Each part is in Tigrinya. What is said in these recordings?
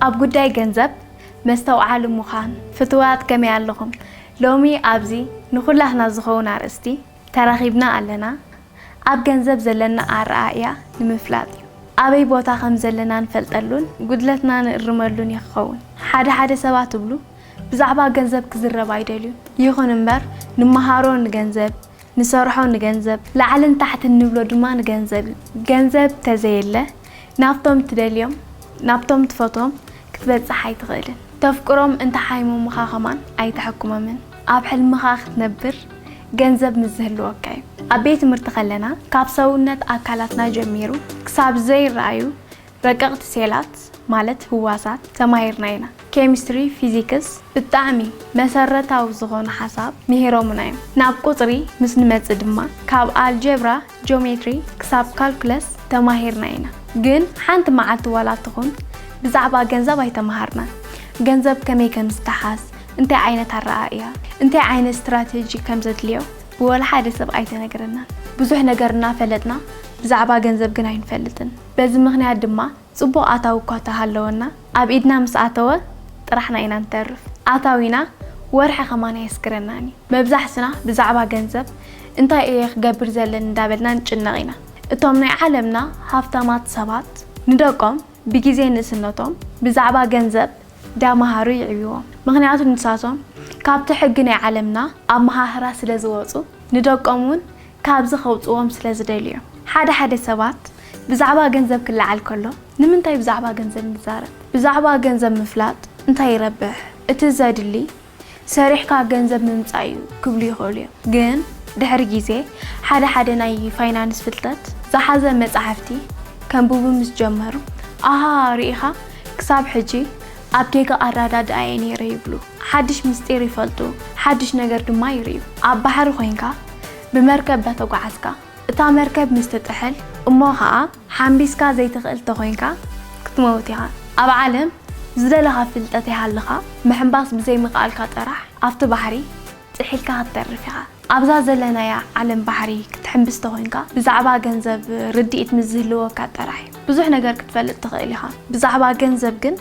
ኣብ ጉዳይ ገንዘብ መስተውዓሊ ምዃን ፍቱዋት ከመይ ኣለኹም ሎሚ ኣብዚ ንኹላትና ዝኸውን ኣርእስቲ ተራኺብና ኣለና ኣብ ገንዘብ ዘለና ኣረኣእያ ንምፍላጥ እዩ ኣበይ ቦታ ከም ዘለና ንፈልጠሉን ጉድለትና ንእርመሉን እዩ ክኸውን ሓደ ሓደ ሰባት ትብሉ ብዛዕባ ገንዘብ ክዝረብ ኣይደልዩን ይኹን እምበር ንመሃሮ ንገንዘብ ንሰርሖ ንገንዘብ፣ ላዕልን ታሕትን ንብሎ ድማ ንገንዘብ እዩ። ገንዘብ ተዘየለ ናብቶም ትደልዮም፣ ናብቶም ትፈትዎም ክትበጽሕ ኣይትኽእልን። ተፍቅሮም እንተ ሓይሞሙኻ ከማን ኣይተሐክሞምን። ኣብ ሕልምኻ ክትነብር ገንዘብ ምስ ዝህልወካ እዩ። ኣብ ቤት ትምህርቲ ከለና ካብ ሰውነት ኣካላትና ጀሚሩ ክሳብ ዘይረኣዩ ረቀቅቲ ሴላት ማለት ህዋሳት ተማሂርና ኢና ኬሚስትሪ ፊዚክስ ብጣዕሚ መሰረታዊ ዝኮኑ ሓሳብ ሚሂሮሙና እዮም ናብ ቁጽሪ ምስ ንመጽእ ድማ ካብ ኣልጀብራ ጆሜትሪ ክሳብ ካልኩለስ ተማሂርና ኢና ግን ሓንቲ መዓልቲ ዋላ ትኩን ብዛዕባ ገንዘብ ኣይተማሃርናን ገንዘብ ከመይ ከም ዝተሓዝ እንታይ ዓይነት ኣረኣእያ እንታይ ዓይነት ስትራተጂ ከም ዘድልዮ ብወላ ሓደ ሰብ ኣይተነገረናን ብዙሕ ነገር እናፈለጥና ብዛዕባ ገንዘብ ግን ኣይንፈልጥን በዚ ምኽንያት ድማ ጽቡቕ ኣታዊ እኳ ተሃለወና ኣብ ኢድና ምስ ኣተወ ጥራሕና ኢና ንተርፍ። ኣታዊና ወርሒ ከማን ኣየስግረናን እዩ። መብዛሕትና ብዛዕባ ገንዘብ እንታይ እየ ክገብር ዘለኒ እንዳበልና ንጭነቕ ኢና። እቶም ናይ ዓለምና ሃፍታማት ሰባት ንደቆም ብጊዜ ንእስነቶም ብዛዕባ ገንዘብ ዳመሃሩ ይዕብይዎም። ምኽንያቱ ንሳቶም ካብቲ ሕጊ ናይ ዓለምና ኣመሃህራ ስለዝወጹ ንደቆም እውን ካብዚ ከውጽዎም ስለ ዝደልዩ እዮም። ሓደ ሓደ ሰባት ብዛዕባ ገንዘብ ክለዓል ከሎ ንምንታይ ብዛዕባ ገንዘብ ንዛረብ? ብዛዕባ ገንዘብ ምፍላጥ እንታይ ይረብሕ? እቲ ዘድሊ ሰሪሕካ ገንዘብ ምምጻእ እዩ ክብሉ ይኽእሉ እዮም። ግን ድሕሪ ግዜ ሓደ ሓደ ናይ ፋይናንስ ፍልጠት ዝሓዘ መጻሕፍቲ ከንብቡ ምስ ጀመሩ ኣሃ ርኢኻ ክሳብ ሕጂ ኣብ ጌጋ ኣራዳድኣ እየ ነይረ ይብሉ። ሓድሽ ምስጢር ይፈልጡ፣ ሓድሽ ነገር ድማ ይርእዩ። ኣብ ባሕሪ ኮይንካ ብመርከብ ዳተጓዓዝካ እታ መርከብ ምስ ትጥሕል እሞ ከኣ ሓምቢስካ ዘይትኽእል ተኮይንካ ክትመውት ኢኻ። ኣብ ዓለም ዝደለኻ ፍልጠት ይሃልኻ ምሕምባስ ብዘይምክኣልካ ጥራሕ ኣብቲ ባሕሪ፣ ጥሒልካ ክትተርፍ ኢኻ። ኣብዛ ዘለናያ ዓለም ባሕሪ ክትሕምብስ ተኾይንካ ብዛዕባ ገንዘብ ርድኢት ምስ ዝህልወካ ጥራሕ እዩ ብዙሕ ነገር ክትፈልጥ ትኽእል ኢኻ። ብዛዕባ ገንዘብ ግን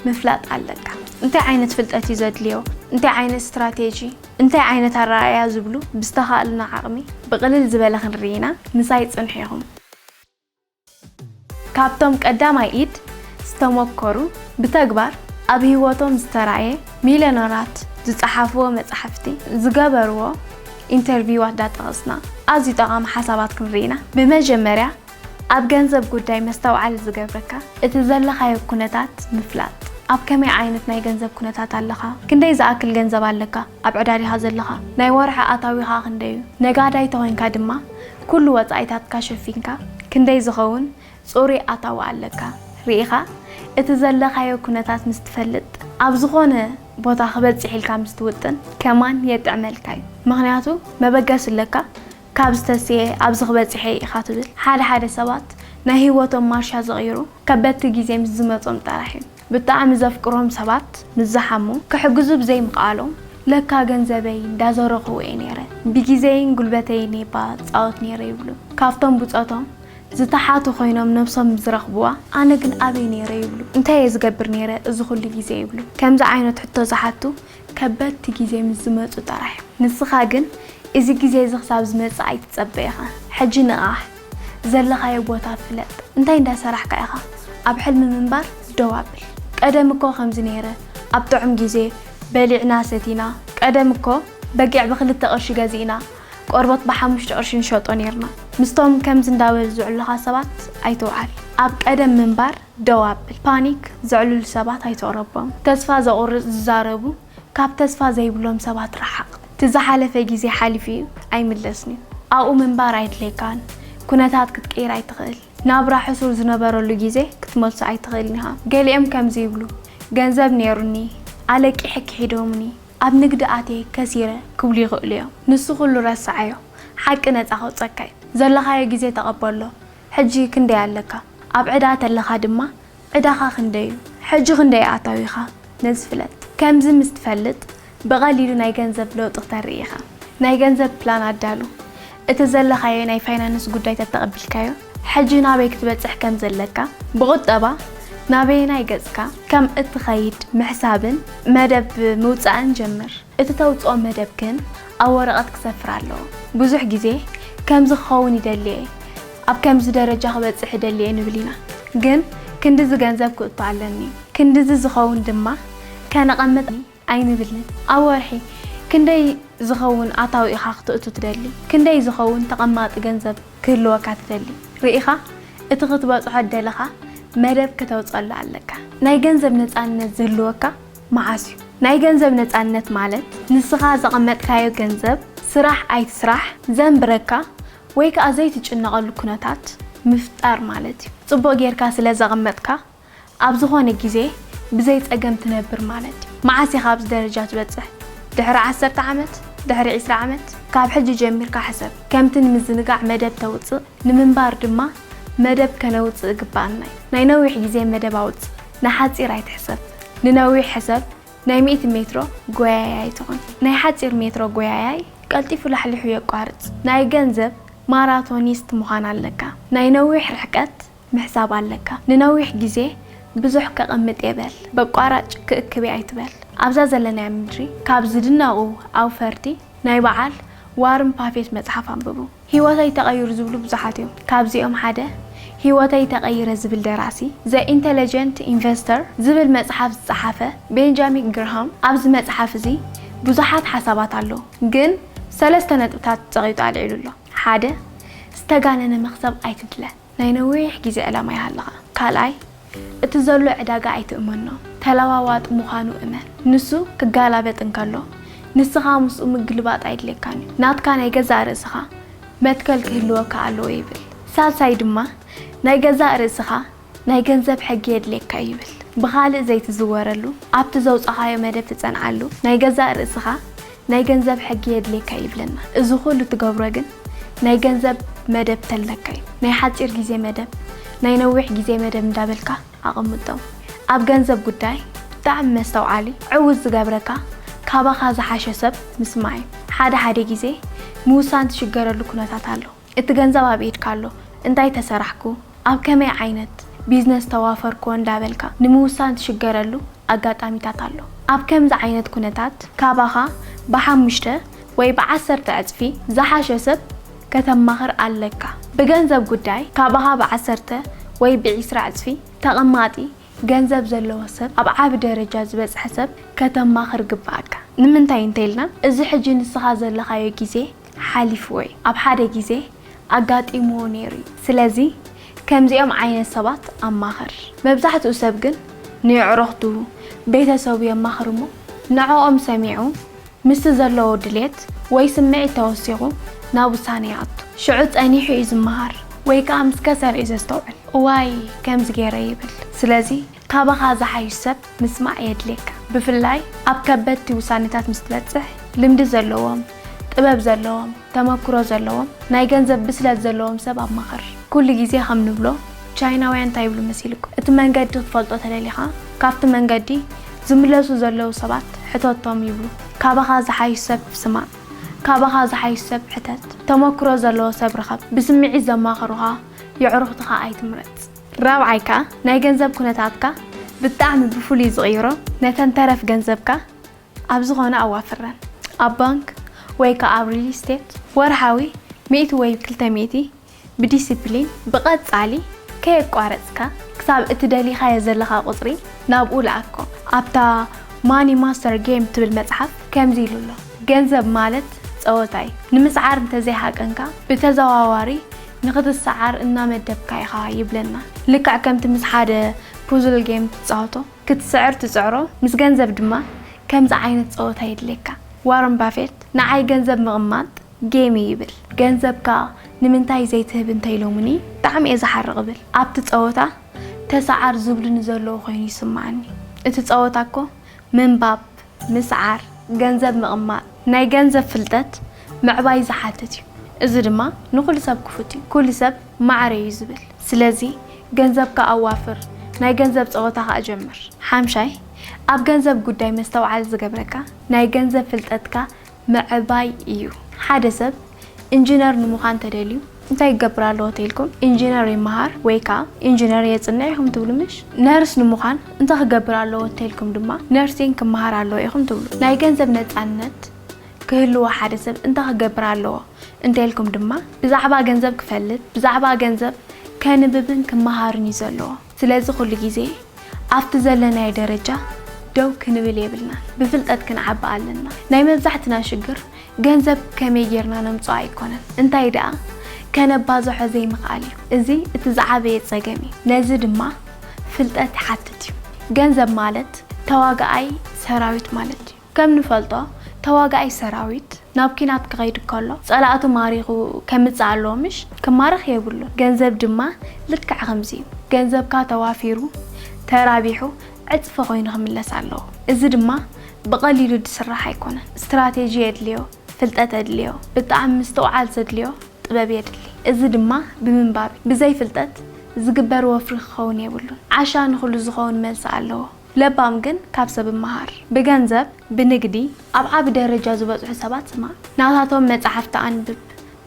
ምፍላጥ ኣለካ። እንታይ ዓይነት ፍልጠት እዩ ዘድልዮ፣ እንታይ ዓይነት ስትራቴጂ፣ እንታይ ዓይነት ኣረኣእያ ዝብሉ ብዝተኻእሉና ዓቕሚ ብቕልል ዝበለ ክንርኢ ኢና። ምሳይ ጽንሑ ኢኹም። ካብቶም ቀዳማይ ኢድ ዝተሞከሩ ብተግባር ኣብ ሂወቶም ዝተራእየ ሚልዮነራት ዝጸሓፍዎ መጻሕፍቲ ዝገበርዎ ኢንተርቪዋት ዳጠቐስና ኣዝዩ ጠቓሚ ሓሳባት ክንርኢ ኢና ብመጀመርያ ኣብ ገንዘብ ጉዳይ መስተውዓሊ ዝገብረካ እቲ ዘለኻዮ ኩነታት ምፍላጥ ኣብ ከመይ ዓይነት ናይ ገንዘብ ኩነታት ኣለኻ ክንደይ ዝኣክል ገንዘብ ኣለካ ኣብ ዕዳዲኻ ዘለኻ ናይ ወርሒ ኣታዊኻ ክንደይ እዩ ነጋዳይ ተኾይንካ ድማ ኩሉ ወጻኢታትካ ሸፊንካ ክንደይ ዝኸውን ጽሩይ ኣታዊ ኣለካ ርኢኻ እቲ ዘለኻዮ ኩነታት ምስ ትፈልጥ ኣብ ዝኾነ ቦታ ክበጽሕ ኢልካ ምስ ትውጥን ከማን የጥዕመልካ እዩ ምኽንያቱ መበገሲ ኣለካ ካብ ዝተስየ ኣብዚ ክበጽሕ እየ ኢኻ ትብል ሓደ ሓደ ሰባት ናይ ሂወቶም ማርሻ ዝቕይሩ ከበድቲ ግዜ ምስ ዝመጾም ጥራሕ እዩ ብጣዕሚ ዘፍቅሮም ሰባት ምስ ዝሓሙ ክሕግዙ ብዘይ ምኽኣሎም ለካ ገንዘበይ እንዳ ዘረኹ እየ ነይረ ብጊዘይን ጉልበተይን እየ እባ ዝጻወት ነይረ ይብሉ ካብቶም ብጾቶም ዝተሓቱ ኮይኖም ነብሶም ምስ ዝረኽብዋ ኣነ ግን ኣበይ ነይረ ይብሉ እንታይ እየ ዝገብር ነይረ እዚ ኩሉ ጊዜ ይብሉ ከምዚ ዓይነት ሕቶ ዝሓቱ ከበድቲ ጊዜ ምስ ዝመጹ ጥራሕ እዮም ንስኻ ግን እዚ ጊዜ እዚ ክሳብ ዝመጽእ ኣይትጸበ ኢኻ ሕጂ ንቓሕ። ዘለኻዮ ቦታ ፍለጥ እንታይ እንዳ ሰራሕካ ኢኻ ኣብ ሕልሚ ምንባር ደው ኣብል ቀደም እኮ ከምዚ ነይረ ኣብ ጥዑም ግዜ በሊዕና ሰቲና ቀደም እኮ በጊዕ ብክልተ ቅርሺ ገዚእና ቆርቦት ብሓሙሽተ ቅርሺ ንሸጦ ነይርና ምስቶም ከምዚ እንዳበሉ ዝዕሉኻ ሰባት ኣይትውዓል ኣብ ቀደም ምንባር ደው ኣብል ፓኒክ ዘዕልሉ ሰባት ኣይትቕረቦም ተስፋ ዘቑርጽ ዝዛረቡ ካብ ተስፋ ዘይብሎም ሰባት ርሓቕ። እቲ ዝሓለፈ ግዜ ሓሊፉ'ዩ ኣይምለስን'ዩ። ኣብኡ ምንባር ኣየድልየካን። ኩነታት ክትቅይር ኣይትኽእል። ናብራ ሕሱር ዝነበረሉ ግዜ ክትመልሶ ኣይትኽእልን ኢኻ። ገሊኦም ከምዚ ይብሉ፣ ገንዘብ ነይሩኒ፣ ኣለቂሐ ክሒዶሙኒ፣ ኣብ ንግዲ ኣትየ ከሲረ ክብሉ ይኽእሉ'ዮም። ንሱ ኩሉ ረስዓዮ። ሓቂ ነጻ ከውጸካ'ዩ። ዘለኻዮ ግዜ ተቐበሎ። ሕጂ ክንደይ ኣለካ? ኣብ ዕዳ ተለኻ ድማ ዕዳኻ ክንደይ እዩ? ሕጂ ክንደይ ኣታዊኻ? ነዚ ፍለጥ። ከምዚ ምስ ትፈልጥ ብቐሊሉ ናይ ገንዘብ ለውጢ ክተርኢ ኢኻ። ናይ ገንዘብ ፕላን ኣዳሉ። እቲ ዘለኻዮ ናይ ፋይናንስ ጉዳይ ተተቐቢልካዮ፣ ሕጂ ናበይ ክትበጽሕ ከም ዘለካ፣ ብቑጠባ ናበየናይ ገጽካ ከም እትኸይድ ምሕሳብን መደብ ምውጻእን ጀምር። እቲ ተውጽኦ መደብ ግን ኣብ ወረቐት ክሰፍር ኣለዎ። ብዙሕ ግዜ ከምዚ ክኸውን ይደሊ'የ፣ ኣብ ከምዚ ደረጃ ክበጽሕ እደሊ'የ ንብል ኢና። ግን ክንድዚ ገንዘብ ክእቱ ኣለኒ፣ ክንድዚ ዝኸውን ድማ ከነቐምጥ ኣይንብልን። ኣብ ወርሒ ክንደይ ዝኸውን ኣታዊ ኢኻ ክተእቱ ትደሊ? ክንደይ ዝኸውን ተቐማጢ ገንዘብ ክህልወካ ትደሊ? ርኢኻ እቲ ክትበጽሖ እደለኻ መደብ ክተውጸሉ ኣለካ። ናይ ገንዘብ ነጻነት ዝህልወካ መዓስ እዩ ናይ ገንዘብ ነፃነት ማለት? ንስኻ ዘቐመጥካዮ ገንዘብ ስራሕ ኣይትስራሕ ዘንብረካ ወይ ከዓ ዘይትጭነቐሉ ኩነታት ምፍጣር ማለት እዩ። ፅቡቕ ገይርካ ስለ ዘቐመጥካ ኣብ ዝኾነ ግዜ ብዘይ ፀገም ትነብር ማለት እዩ። መዓስ ኢኻ ኣብዚ ደረጃ ትበፅሕ? ድሕሪ ዓሰርተ ዓመት? ድሕሪ ዕስራ ዓመት? ካብ ሕጂ ጀሚርካ ሕሰብ። ከምቲ ንምዝንጋዕ መደብ ተውፅእ ንምንባር ድማ መደብ ከነውፅእ ግበኣና እዩ። ናይ ነዊሕ ግዜ መደብ ኣውፅእ። ንሓጺር ኣይትሕሰብ ንነዊሕ ሕሰብ ናይ ሚእቲ ሜትሮ ጎያያይ ትኹን ናይ ሓጺር ሜትሮ ጎያያይ ቀልጢፉ ላሕሊሑ የቋርጽ ናይ ገንዘብ ማራቶኒስት ምዃን ኣለካ ናይ ነዊሕ ርሕቀት ምሕሳብ ኣለካ ንነዊሕ ግዜ ብዙሕ ከቐምጥ'የ በል በቋራጭ ክእክብ'የ ኣይትበል ኣብዛ ዘለናያ ምድሪ ካብ ዝድነቑ ኣውፈርቲ ናይ በዓል ዋርን ፓፌት መጽሓፍ ኣንብቡ። ህይወተይ ተቐይሩ ዝብሉ ብዙሓት እዮም። ካብዚኦም ሓደ ህይወተይ ተቐይረ ዝብል ደራሲ The Intelligent Investor ዝብል መጽሓፍ ዝጸሓፈ ቤንጃሚክ ግርሃም ኣብዚ መጽሓፍ እዚ ብዙሓት ሓሳባት ኣለዉ ግን ሰለስተ ነጥብታት ጸቒጡ ኣልዒሉ ኣሎ ሓደ ዝተጋነነ መኽሰብ ኣይትድለ። ናይ ነዊሕ ግዜ ዕላማ ይሃልኻ። ካልኣይ፣ እቲ ዘሎ ዕዳጋ ኣይትእመኖ። ተለዋዋጢ ምዃኑ እመን። ንሱ ክጋላበጥ እንከሎ፣ ንስኻ ምስኡ ምግልባጥ ኣይድልየካን እዩ። ናትካ ናይ ገዛእ ርእስኻ መትከል ክህልወካ ኣለዎ ይብል። ሳልሳይ ድማ፣ ናይ ገዛእ ርእስኻ ናይ ገንዘብ ሕጊ የድልየካ እዩ ይብል። ብኻልእ ዘይትዝወረሉ፣ ኣብቲ ዘውጻኻዮ መደብ ትጸንዓሉ፣ ናይ ገዛእ ርእስኻ ናይ ገንዘብ ሕጊ የድልየካ ይብለና እዚ ኩሉ ትገብሮ ግን ናይ ገንዘብ መደብ ተለካ እዩ ናይ ሓጺር ግዜ መደብ ናይ ነዊሕ ግዜ መደብ እንዳበልካ ኣቀምጦም ኣብ ገንዘብ ጉዳይ ብጣዕሚ መስተውዓሊ ዕውት ዝገብረካ ካባካ ዝሓሸ ሰብ ምስማዕ እዩ ሓደ ሓደ ግዜ ምውሳን ትሽገረሉ ኩነታት ኣሎ እቲ ገንዘብ ኣብ ኢድካ ኣሎ እንታይ ተሰራሕኩ፣ ኣብ ከመይ ዓይነት ቢዝነስ ተዋፈርኩ እንዳበልካ ንምውሳን ትሽገረሉ ኣጋጣሚታት ኣሎ። ኣብ ከምዚ ዓይነት ኩነታት ካባኻ ብሓሙሽተ ወይ ብዓሰርተ ዕጽፊ ዝሓሸ ሰብ ከተማኽር ኣለካ። ብገንዘብ ጉዳይ ካባኻ ብዓሰርተ ወይ ብዒስራ ዕጽፊ ተቐማጢ ገንዘብ ዘለዎ ሰብ፣ ኣብ ዓቢ ደረጃ ዝበጽሐ ሰብ ከተማኽር ግብኣካ። ንምንታይ እንተኢልና እዚ ሕጂ ንስኻ ዘለኻዮ ግዜ፣ ሓሊፉ ወይ ኣብ ሓደ ግዜ ኣጋጢምዎ ነይሩ እዩ። ስለዚ ከምዚኦም ዓይነት ሰባት ኣማኽር። መብዛሕትኡ ሰብ ግን ንየዕሩኽቱ፣ ቤተሰቡ የማኽር እሞ ንዕኦም ሰሚዑ ምስቲ ዘለዎ ድሌት ወይ ስምዒት ተወሲኹ ናብ ውሳነ ይኣቱ። ሽዑ ጸኒሑ እዩ ዝመሃር ወይ ከኣ ምስ ከሰረ እዩ ዘስተውዕል። እዋይ ከምዚ ገይረ ይብል። ስለዚ ካባኻ ዝሓይሽ ሰብ ምስማዕ የድልየካ። ብፍላይ ኣብ ከበድቲ ውሳኔታት ምስ ትበጽሕ፣ ልምዲ ዘለዎም፣ ጥበብ ዘለዎም፣ ተመክሮ ዘለዎም፣ ናይ ገንዘብ ብስለት ዘለዎም ሰብ ኣማኽር። ኩሉ ግዜ ከም ንብሎ ቻይናውያን እንታይ ይብሉ መሲልኩም? እቲ መንገዲ ክትፈልጦ ተደሊኻ ካብቲ መንገዲ ዝምለሱ ዘለዉ ሰባት ሕተቶም ይብሉ። ካባኻ ዝሓይሽ ሰብ ስማዕ። ካባኻ ዝሓይሽ ሰብ ሕተት። ተመክሮ ዘለዎ ሰብ ርኸብ። ብስምዒት ዘማኽሩኻ የዕሩኽትኻ ኣይትምረጽ። ራብዓይ ከኣ ናይ ገንዘብ ኩነታትካ ብጣዕሚ ብፍሉይ ዝቕይሮ ነተን ተረፍ ገንዘብካ ኣብ ዝኾነ ኣዋፍረን። ኣብ ባንክ ወይ ከኣ ኣብ ሪል ስቴት ወርሓዊ ሚእቲ ወይ ክልተ ሚእቲ ብዲሲፕሊን ብቐጻሊ ከየቋረጽካ ክሳብ እቲ ደሊኻዮ ዘለኻ ቁጽሪ ናብኡ ልኣኮ። ኣብታ ማኒ ማስተር ጌም ትብል መጽሓፍ ከምዚ ኢሉ ኣሎ ገንዘብ ማለት ጸወታ እዩ። ንምስዓር እንተዘይሃቀንካ ብተዘዋዋሪ ንኽትሰዓር እናመደብካ ኢኻ ይብለና። ልክዕ ከምቲ ምስ ሓደ ፑዝል ጌም ትጻወቶ፣ ክትስዕር ትጽዕሮ፣ ምስ ገንዘብ ድማ ከምዚ ዓይነት ጸወታ የድልየካ። ዋረን ባፌት ንዓይ ገንዘብ ምቕማጥ ጌም እዩ ይብል። ገንዘብካ ንምንታይ ዘይትህብ እንተ ኢሎሙኒ ብጣዕሚ እየ ዝሓርቕ ይብል። ኣብቲ ጸወታ ተሰዓር ዝብሉኒ ዘለዉ ኮይኑ ይስመዓኒ። እቲ ጸወታ እኮ ምንባብ፣ ምስዓር፣ ገንዘብ ምቕማጥ፣ ናይ ገንዘብ ፍልጠት ምዕባይ ዝሓትት እዩ። እዚ ድማ ንኹሉ ሰብ ክፉት እዩ። ኩሉ ሰብ ማዕረ እዩ ዝብል። ስለዚ ገንዘብካ ኣዋፍር፣ ናይ ገንዘብ ጸወታ ከኣ ጀምር። ሓምሻይ፣ ኣብ ገንዘብ ጉዳይ መስተውዓል ዝገብረካ ናይ ገንዘብ ፍልጠትካ ምዕባይ እዩ። ሓደ ሰብ ኢንጂነር ንምዃን ተደልዩ እንታይ ክገብር ኣለዎ ተይልኩም ኢንጂነር ይመሃር ወይ ከኣ ኢንጂነር የጽንዕ ኢኹም ትብሉ ምሽ? ነርስ ንምዃን እንታይ ክገብር ኣለዎ ተይልኩም ድማ ነርሲንግ ክመሃር ኣለዎ ኢኹም ትብሉ። ናይ ገንዘብ ነጻነት ክህልዎ ሓደ ሰብ እንታይ ክገብር ኣለዎ እንተይልኩም ድማ ብዛዕባ ገንዘብ ክፈልጥ፣ ብዛዕባ ገንዘብ ከንብብን ክመሃርን እዩ ዘለዎ። ስለዚ ኩሉ ግዜ ኣብቲ ዘለናዮ ደረጃ ደው ክንብል የብልናን ብፍልጠት ክንዓቢ ኣለና ናይ መብዛሕትና ሽግር ገንዘብ ከመይ ጌርና ነምጽኦ ኣይኮነን እንታይ ደኣ ከነባዝሖ ዘይምኽኣል እዩ እዚ እቲ ዝዓበየ ጸገም እዩ ነዚ ድማ ፍልጠት ይሓትት እዩ ገንዘብ ማለት ተዋጋኣይ ሰራዊት ማለት እዩ። ከም ንፈልጦ ተዋጋኣይ ሰራዊት ናብ ኩናት ክኸይድ ከሎ ጸላእቱ ማሪኹ ከምጽእ ኣለዎ ምሽ? ክማረኽ የብሉን። ገንዘብ ድማ ልክዕ ከምዚ እዩ። ገንዘብካ ተዋፊሩ፣ ተራቢሑ፣ ዕጽፊ ኮይኑ ክምለስ ኣለዎ። እዚ ድማ ብቐሊሉ ዝስራሕ ኣይኮነን። ስትራቴጂ የድልዮ፣ ፍልጠት የድልዮ፣ ብጣዕሚ ምስትውዓል ዘድልዮ ጥበብ የድሊ። እዚ ድማ ብምንባብ እዩ። ብዘይ ፍልጠት ዝግበር ወፍሪ ክኸውን የብሉን። ዓሻ ንኹሉ ዝኸውን መልሲ ኣለዎ። ለባም ግን ካብ ሰብ መሃር። ብገንዘብ ብንግዲ ኣብ ዓቢ ደረጃ ዝበጽሑ ሰባት ስማዕ። ናታቶም መጻሕፍቲ ኣንብብ።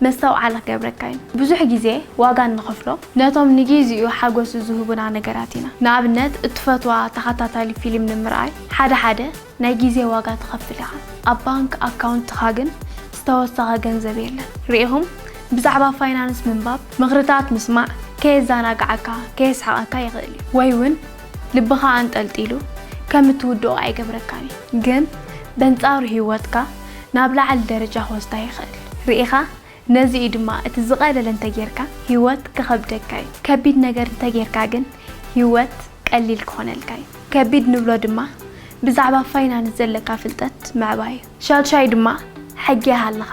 መስተውዓሊ ክገብረካ እዩ። ብዙሕ ግዜ ዋጋ እንኸፍሎ ነቶም ንጊዚኡ ሓጎስ ዝህቡና ነገራት ኢና። ንኣብነት እትፈትዋ ተኸታታሊ ፊልም ንምርኣይ ሓደ ሓደ ናይ ግዜ ዋጋ ትኸፍል ኢኻ። ኣብ ባንክ ኣካውንትኻ ግን ዝተወሰኸ ገንዘብ የለን። ርኢኹም ብዛዕባ ፋይናንስ ምንባብ፣ ምኽርታት ምስማዕ ከየዘናግዓካ ከየስሕቐካ ይኽእል እዩ። ወይ'ውን ልብኻ ኣንጠልጢሉ ከም እትውድኦ ኣይገብረካን እዩ፣ ግን በንጻሩ ህይወትካ ናብ ላዕሊ ደረጃ ክወስዳ ይኽእል። ርኢኻ? ነዚ እዩ ድማ እቲ ዝቐለለ እንተ ጌርካ ህይወት ክኸብደካ እዩ፣ ከቢድ ነገር እንተ ጌርካ ግን ህይወት ቀሊል ክኾነልካ እዩ። ከቢድ ንብሎ ድማ ብዛዕባ ፋይናንስ ዘለካ ፍልጠት ምዕባይ እዩ። ሻድሻይ ድማ ሕጊ ይሃልኻ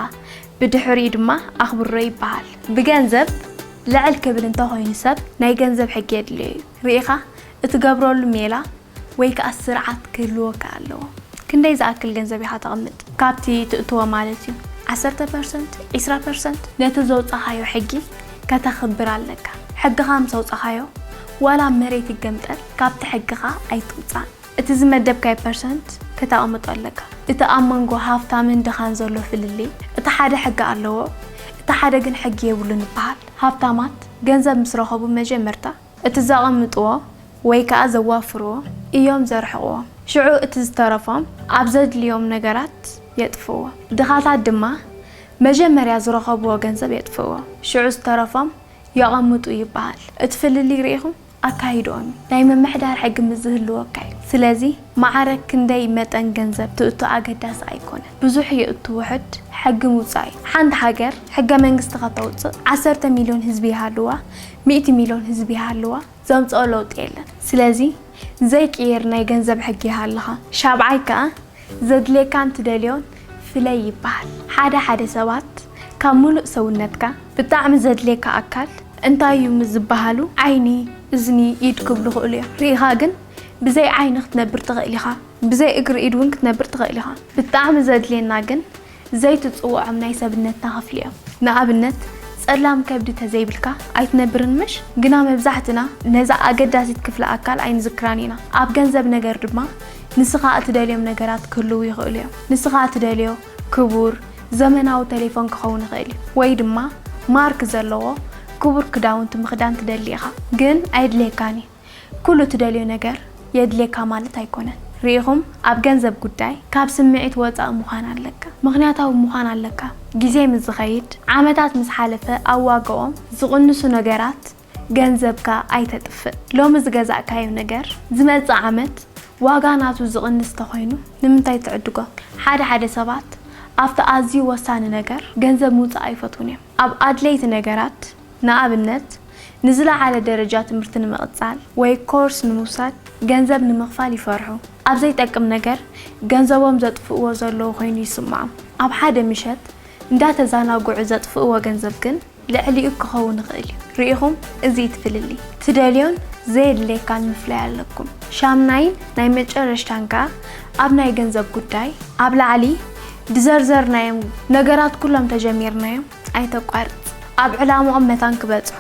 ብድሕሪኡ ድማ ኣኽብሮ ይበሃል። ብገንዘብ ልዕል ክብል እንተ ኾይኑ ሰብ ናይ ገንዘብ ሕጊ የድልዮ እዩ። ርኢኻ እትገብረሉ ሜላ ወይ ከኣ ስርዓት ክህልወካ ኣለዎ። ክንደይ ዝኣክል ገንዘብ ኢኻ ተቕምጥ? ካብቲ ትእትዎ ማለት እዩ። ዓሰርተ ፐርሰንት? ዕስራ ፐርሰንት? ነቲ ዘውጻኻዮ ሕጊ ከተኽብር ኣለካ። ሕግኻ ምስ ኣውጻኻዮ ዋላ መሬት ይገምጠል ካብቲ ሕግኻ ኣይትውጻእ። እቲ ዝመደብካዮ ፐርሰንት ከተቐምጦ ኣለካ። እቲ ኣብ መንጎ ሃፍታምን ድኻን ዘሎ ፍልልይ እቲ ሓደ ሕጊ ኣለዎ እቲ ሓደ ግን ሕጊ የብሉን ይበሃል። ሃብታማት ገንዘብ ምስ ረኸቡ መጀመርታ እቲ ዘቐምጥዎ ወይ ከኣ ዘዋፍርዎ እዮም ዘርሕቕዎም። ሽዑ እቲ ዝተረፎም ኣብ ዘድልዮም ነገራት የጥፍእዎ። ድኻታት ድማ መጀመርያ ዝረኸብዎ ገንዘብ የጥፍእዎ ሽዑ ዝተረፎም የቐምጡ ይበሃል። እቲ ፍልልይ ርኢኹም? ኣካይድኦን ናይ ምምሕዳር ሕጊ ምስ ዝህልወካ እዩ። ስለዚ ማዕረ ክንደይ መጠን ገንዘብ ትእቱ ኣገዳሲ ኣይኮነን። ብዙሕ የእቱ ውሑድ ሕጊ ምውጻእ እዩ። ሓንቲ ሃገር ሕገ መንግስቲ ከተውጽእ ዓሰርተ ሚልዮን ህዝቢ ይሃልዋ ሚእቲ ሚልዮን ህዝቢ ይሃልዋ ዘምጽኦ ለውጢ የለን። ስለዚ ዘይቅየር ናይ ገንዘብ ሕጊ ይሃልኻ። ሻብዓይ ከኣ ዘድልየካን ትደልዮን ፍለይ ይበሃል። ሓደ ሓደ ሰባት ካብ ምሉእ ሰውነትካ ብጣዕሚ ዘድልየካ ኣካል እንታይ እዩ ምስ ዝበሃሉ ዓይኒ፣ እዝኒ፣ ኢድ ክብሉ ይኽእሉ እዮም። ርኢኻ ግን ብዘይ ዓይኒ ክትነብር ትኽእል ኢኻ፣ ብዘይ እግሪ ኢድ እውን ክትነብር ትኽእል ኢኻ። ብጣዕሚ ዘድልየና ግን ዘይትጽውዖም ናይ ሰብነትና ክፍሊ እዮም። ንኣብነት ጸላም ከብዲ ተዘይብልካ ኣይትነብርን ምሽ? ግና መብዛሕትና ነዛ ኣገዳሲት ክፍሊ ኣካል ኣይንዝክራን ኢና። ኣብ ገንዘብ ነገር ድማ ንስኻ እትደልዮም ነገራት ክህልዉ ይኽእሉ እዮም። ንስኻ እትደልዮ ክቡር ዘመናዊ ተሌፎን ክኸውን ይኽእል እዩ። ወይ ድማ ማርክ ዘለዎ ክቡር ክዳውንቲ ምኽዳን ትደሊ ኢኻ። ግን ኣየድልየካን እዩ። ኩሉ ትደልዮ ነገር የድልየካ ማለት ኣይኮነን ሪኢኹም ኣብ ገንዘብ ጉዳይ ካብ ስምዒት ወጻኢ ምዃን ኣለካ ምኽንያታዊ ምዃን ኣለካ ግዜ ምስ ዝኸይድ ዓመታት ምስ ሓለፈ ኣብ ዋጋኦም ዝቕንሱ ነገራት ገንዘብካ ኣይተጥፍእ ሎሚ ዝገዛእካዮ ነገር ዝመጽእ ዓመት ዋጋ ናቱ ዝቕንስ ተኾይኑ ንምንታይ ትዕድጎ ሓደ ሓደ ሰባት ኣብቲ ኣዝዩ ወሳኒ ነገር ገንዘብ ምውጻእ ኣይፈትዉን እዮም ኣብ ኣድለይቲ ነገራት ንኣብነት፣ ንዝለዓለ ደረጃ ትምህርቲ ንምቕጻል ወይ ኮርስ ንምውሳድ ገንዘብ ንምኽፋል ይፈርሑ። ኣብ ዘይጠቅም ነገር ገንዘቦም ዘጥፍእዎ ዘለዉ ኾይኑ ይስምዖም። ኣብ ሓደ ምሸት እንዳተዛናግዑ ዘጥፍእዎ ገንዘብ ግን ልዕሊኡ ክኸውን ይኽእል እዩ። ርኢኹም እዚ እቲ ፍልልይ። ትደልዮን ዘየድልየካን ምፍላይ ኣለኩም። ሻምናይን ናይ መጨረሽታን ከኣ ኣብ ናይ ገንዘብ ጉዳይ፣ ኣብ ላዕሊ ድዘርዘርናዮም ነገራት ኩሎም ተጀሚርናዮም፣ ኣይተቋርጽ ኣብ ዕላምኦም መታን ክበጽሑ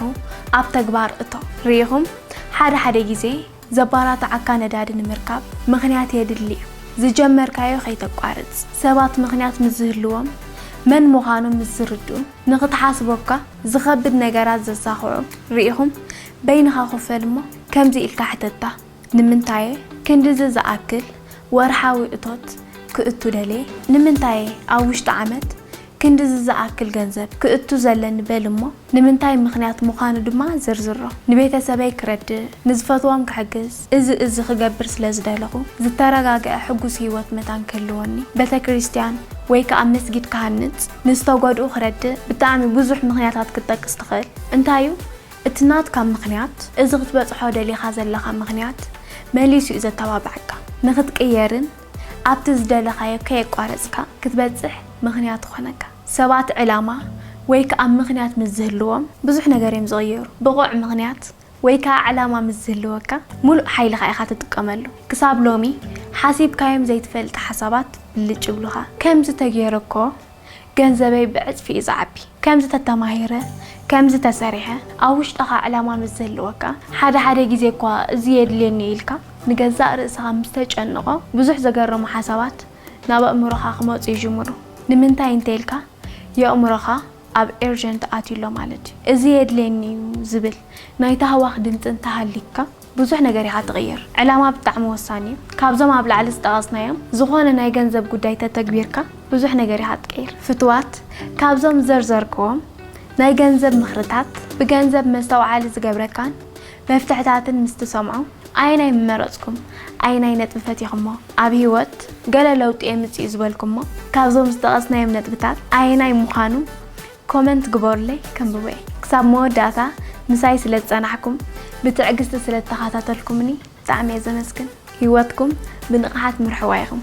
ኣብ ተግባር እቶ። ርኢኹም ሓደ ሓደ ግዜ ዘባራትዓካ ነዳዲ ንምርካብ ምኽንያት የድሊ እዩ ዝጀመርካዮ ከይተቋርጽ ሰባት ምኽንያት ምስ ዝህልዎም መን ምዃኖም ምስ ዝርድኡ ንኽትሓስቦካ ዝኸብድ ነገራት ዘሳኽዑ ርኢኹም በይንኻ ኮፍ በል እሞ ከምዚ ኢልካ ሕተታ ንምንታይ'የ ክንድዚ ዝኣክል ወርሓዊ እቶት ክእቱ ደልየ? ንምንታይ'የ ኣብ ውሽጢ ዓመት ክንድዚ ዝኣክል ገንዘብ ክእቱ ዘለኒ በል'ሞ ንምንታይ ምኽንያት ምዃኑ ድማ ዝርዝሮ። ንቤተሰበይ ክረድእ፣ ንዝፈትዎም ክሕግዝ፣ እዚ እዚ ክገብር ስለ ዝደለኹ ዝተረጋግዐ ሕጉስ ህይወት መታን ክህልወኒ፣ ቤተክርስትያን ወይ ከኣ መስጊድ ክሃንጽ፣ ንዝተጎድኡ ክረድእ፣ ብጣዕሚ ብዙሕ ምኽንያታት ክትጠቅስ ትኽእል። እንታይ'ዩ እቲ ናትካ ምኽንያት፣ እዚ ክትበጽሖ ደሊኻ ዘለኻ ምኽንያት መሊሱ እዩ ዘተባብዓካ። ንኽትቅየርን ኣብቲ ዝደለኻዮ ከየቋረጽካ ክትበጽሕ ምኽንያት ይኾነካ። ሰባት ዕላማ ወይ ከኣ ምኽንያት ምስ ዝህልዎም ብዙሕ ነገር እዮም ዝቕይሩ። ብቑዕ ምኽንያት ወይ ከኣ ዕላማ ምስ ዝህልወካ ምሉእ ሓይልኻ ኢኻ ትጥቀመሉ። ክሳብ ሎሚ ሓሲብካዮም ዘይትፈልጥ ሓሳባት ብልጭ ይብሉኻ። ከምዚ ተገይሩ እኮ ገንዘበይ ብዕጽፊ እዩ ዝዓቢ። ከምዚ ተተማሂረ፣ ከምዚ ተሰሪሐ፣ ኣብ ውሽጥኻ ዕላማ ምስ ዝህልወካ፣ ሓደ ሓደ ግዜ እኳ እዚ የድልየኒ እዩ ኢልካ ንገዛእ ርእስኻ ምስ ተጨንቖ፣ ብዙሕ ዘገርሙ ሓሳባት ናብ ኣእምሮኻ ክመጹ ይጅምሩ። ንምንታይ እንተኢልካ፣ የእምሮኻ ኣብ ኤርጀንት ኣትዩ ኣሎ ማለት እዩ። እዚ የድልየኒ እዩ ዝብል ናይ ታህዋኽ ድምጺ እንተሃልዩካ፣ ብዙሕ ነገር ኢኻ ትቕይር። ዕላማ ብጣዕሚ ወሳኒ እዩ። ካብዞም ኣብ ላዕሊ ዝጠቐስናዮም ዝኾነ ናይ ገንዘብ ጉዳይ ተተግቢርካ ብዙሕ ነገር ኢኻ ትቅይር። ፍቱዋት ካብዞም ዝዘርዘርክዎም ናይ ገንዘብ ምኽርታት ብገንዘብ መስተውዓሊ ዝገብረካን መፍትሕታትን ምስ ትሰምዑ ኣየናይ ምመረጽኩም? ኣየናይ ነጥቢ ፈቲኽሞ? ኣብ ህይወት ገለ ለውጢ የምጽእ'ዩ ዝበልኩሞ ካብዞም ዝጠቐስናዮም ነጥብታት ኣየናይ ምዃኑ ኮመንት ግበሩለይ ከንብቦ እየ። ክሳብ መወዳእታ ምሳይ ስለ ዝጸናሕኩም ብትዕግስቲ ስለ ተኻታተልኩምኒ ብጣዕሚ እየ ዘመስግን። ሂወትኩም ብንቕሓት ምርሕዋ ኢኹም።